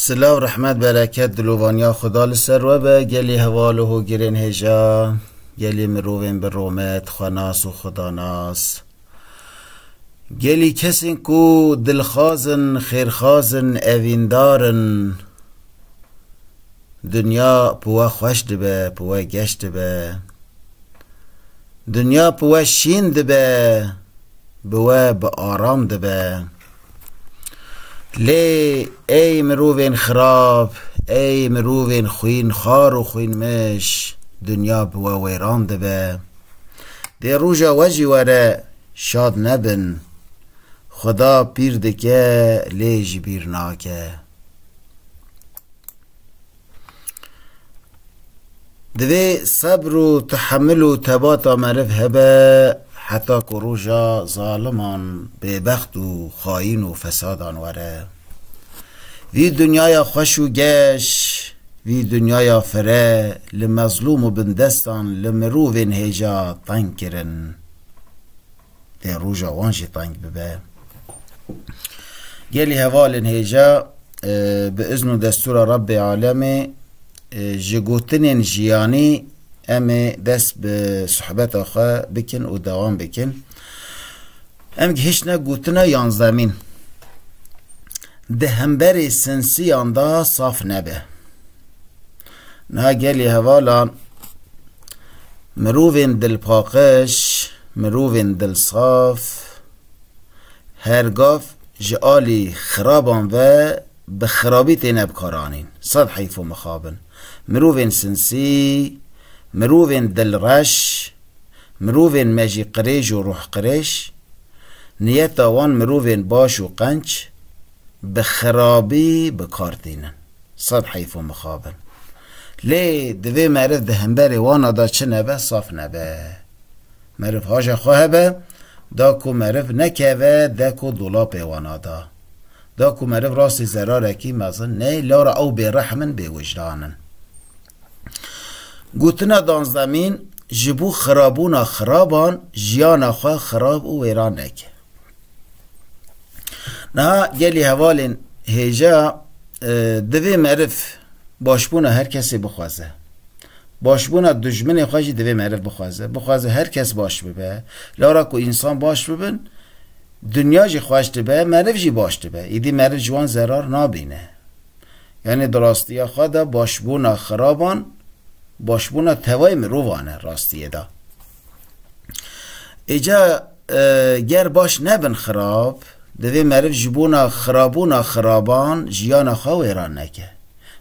Sila û rehmet bereket dilovaniya Xuda li ser we be gelê heval û hogirên hêja gelê mirovên bi romet, xwenas û xudanas. Gelî kesên ku dilxwaz in, xêrxwaz in, evîndar in. Dinya bi we xweş dibe, bi we geş dibe. Dinya bi we şîn dibe, bi we bi aram dibe. Lê ey mirovên xirab, ey mirovên xwînxar û xwînmiş, dinya bi we wêran dibe. Dê roja we jî were, şad nebin. Xweda pîr dike, lê ji bîr nake. Divê sebr û tehemil û tebata meriv hebe heta ku roja zaliman, bêbext û xayîn û fesadan were. Vî dinyaya xweş û geş, vî dinyaya fire li mezlûm û bindestan li mirovên hêja teng kirin. lê roja wan jî teng bibe. Gelî hevalên hêja bi izn û destûra Rebbê Alemê ji gotinên jiyanî em ê dest bi sohbeta xwe bikin û dewam bikin. Em gihiştine gotina yanzdemîn. Di hemberê sinsiyan de saf nebe. Na gelê hevalan mirovên dilpaqij, mirovên dilsaf her gav ji alî xiraban ve bi xirabî têne bikaranîn. Sed heyf û mixabin. Mirovên sinsî, mirovên dilreş, mirovên me jî qirêj û ruhqirêj, niyeta wan mirovên baş û qenc, bi xirabî bi kar tînin. Sed heyf û mixab in. Lê divê meriv di hemberê wana de çi nebe saf nebe. Meriv haja xwe hebe, da ku meriv nekeve dek û dolapê wana de. Da ku meriv rastî zerarekî mezin neyê, lara ew bêrehm in, bêwijdan in. Gotina Danzemîn ji bo xirabûna xiraban jiyana xwe xirab û wêran neke. Niha gelî hevalên hêja divê meriv başbûna her kesê bixwaze. Başbûna dijminê xwe jî divê meriv bixwaze. Bixwaze her kes baş bibe. Li ora ku însan baş bibin, dinya jî xweş dibe, meriv jî baş dibe. Îdî meriv ji wan zerar nabîne. Yanî di rastiya xwe de başbûna xiraban başbûna tevayê mirovan e rastiyê de. Îca ger baş nebin xirab, divê meriv ji bona xirabûna xiraban jiyana xwe wêran neke.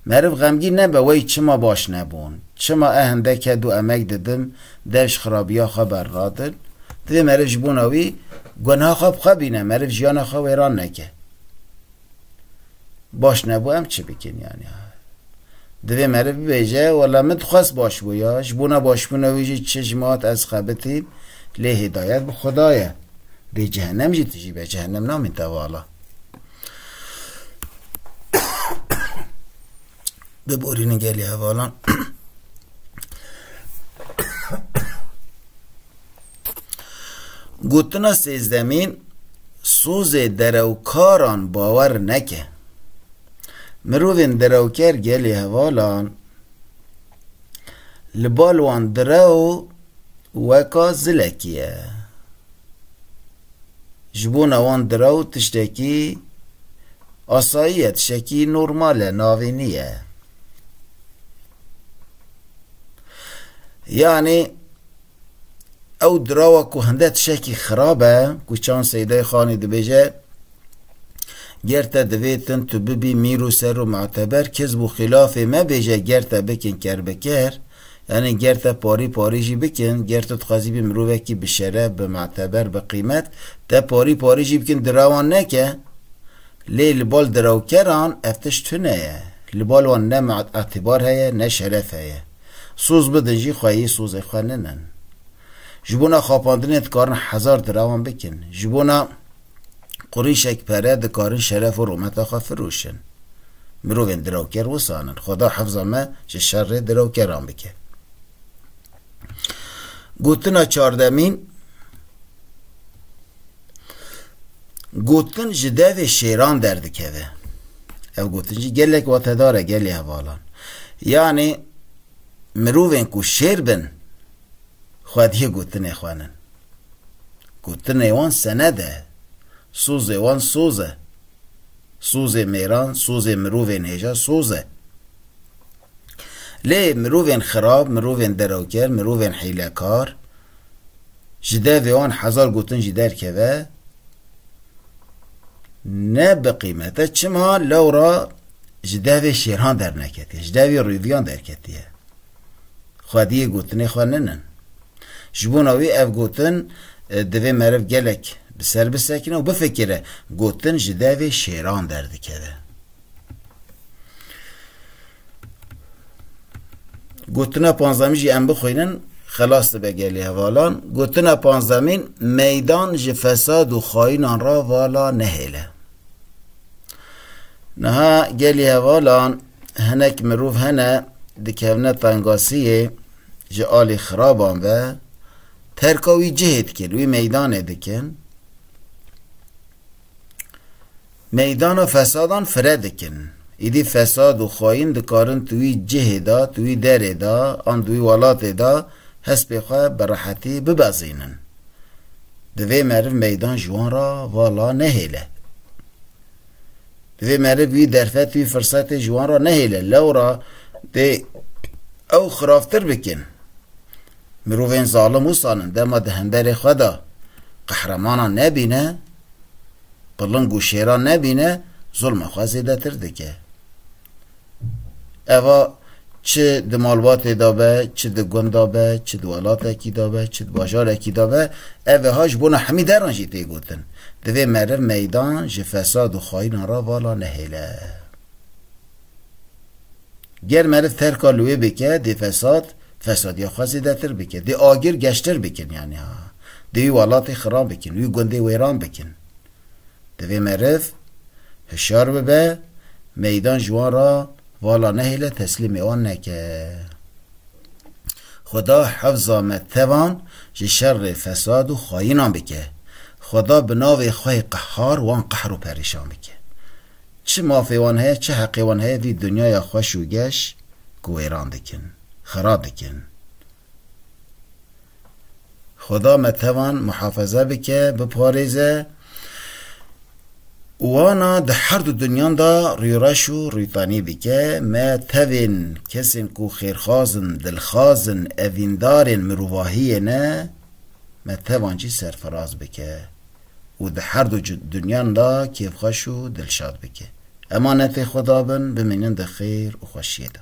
Meriv xemgîn nebe wey çima baş nebûn, çima e hindeke du emek didim dev ji xirabiya xwe bernadin, divê meriv ji bona wî gunha xwe bi xwe bîne, meriv jiyana xwe wêran neke. Baş nebû em çi bikin yani. Divê meriv bibêje wela min dixwest baş bû ya ji bona başbûna wî jî çi ji min hat ez xebitîm lê hidayet bi Xuda ye. Dê cehennem jî tijî be cehennem namîn tevala. biborînin gelê hevalan. Gotina sêzdemîn sozê derewkaran bawer neke. Mirovên derewker gelê hevalan li bal wan direw weka zilekî ye. Ji bona wan diraw tiştekî asayî ye, tiştekî normal e, navînî ye. Yanî ew dirawa ku hinde tişekî xirab e, ku Çand Seydayê Xanî dibêje, Ger te divê tim tu bibî mîr û ser û muteber, kes bû xîlafê me bêje ger te bikin kerbiker, Yanî ger te parî parî jî bikin, ger tu dixwazî bî mirovekî bi şeref, bi meteber, bi qîmet, te parî parî jî bikin dirawan neke. Lê li bal dirawkeran ev tişt tune ye. Li bal wan ne îtibar heye, ne şeref heye. Soz bidin jî xwe yê sozê xwe ninin. Ji bona xapandinê dikarin hezar dirawan bikin. Ji bona. Qurîşek pere dikarin şeref û rûmeta xwe firûşin. Mirovên dirawker wisan in. Xweda hefza me ji şerê dirawkeran bike. Gotina çardemîn Gotin ji devê şêran derdikeve. Ev gotin jî gelek watedar e gelê hevalan. Yanê mirovên ku şêr bin xwediyê gotinê xwenin. Gotinê wan sened e. Sozê wan soz e. Sozê mêran, sozê mirovên hêja soz e. Lê mirovên xirab, mirovên derewker, mirovên hîlekar, ji devê wan hezar gotin jî derkeve, ne bi qîmet e. Çima lewra ji devê şêran derneketiye, ji devê rûviyan derketiye. Xwediyê gotinê xwe ninin. Ji bona wî ev gotin divê meriv gelek bi ser bisekine û bifikire, gotin ji devê şêran derdikeve. Gotina panzdemîn jî em bixwînin xelas dibe gelê hevalan. Gotina panzdemîn meydan ji fesad û xayînan re vala nehêle. Niha gelê hevalan hinek mirov hene dikevne tengasiyê Ji alî xiraban ve terka wî cihê dikin, wî meydanê dikin. Meydana fesadan fire dikin. Îdî fesad û xayîn dikarin di wî cihê de, di wî derê de an di wî welatê de hespê xwe bi rehetî bibezînin. Divê meriv meydan ji wan re vala nehêle. Divê meriv wî derfet, wî firsetê ji wan re nehêle. Lewra dê ew xiravtir bikin. Mirovên zalim wisan in, dema di hemberê xwe de qehremanan nebîne, piling û şêran nebîne, zulma xwe zêdetir dike. Eva çi di malbatê de be, çi di gund de be, çi di welatekî de be, çi di bajarekî de be, evha ji bona hemî deran jî tê gotin. Divê meriv meydan ji fesad û xaînan re vala nehêle. Ger meriv terka li wê bike, dê fesad, fesadiya xwe zêdetir bike. Dê agir geştir bikin yanî ha. Dê wî welatê xiran bikin, wî gundê wêran bikin. Divê meriv hişyar bibe, meydan ji wan re vala nehêle teslîmê wan neke. Xweda hifza me tevan ji şerê fesad û xayînan bike. Xweda bi navê xwe yê qehar wan qehr û perîşan bike. Çi mafê wan heye, çi heqê wan heye vî dinyaya xweş û geş ku wêran dikin, xira dikin. Xweda me tevan muhafeze bike, biparêze û wana di her du dunyan de rûreş û rûtanî bike. Me tevên kesên ku xêrxwaz in, dilxwaz in, evîndarên mirovahiyê ne, me tevan jî serfiraz bike û di her du dunyan de kêfxweş û dilşad bike. Emanetê Xweda bin, bimînin di xêr û xweşiyê de.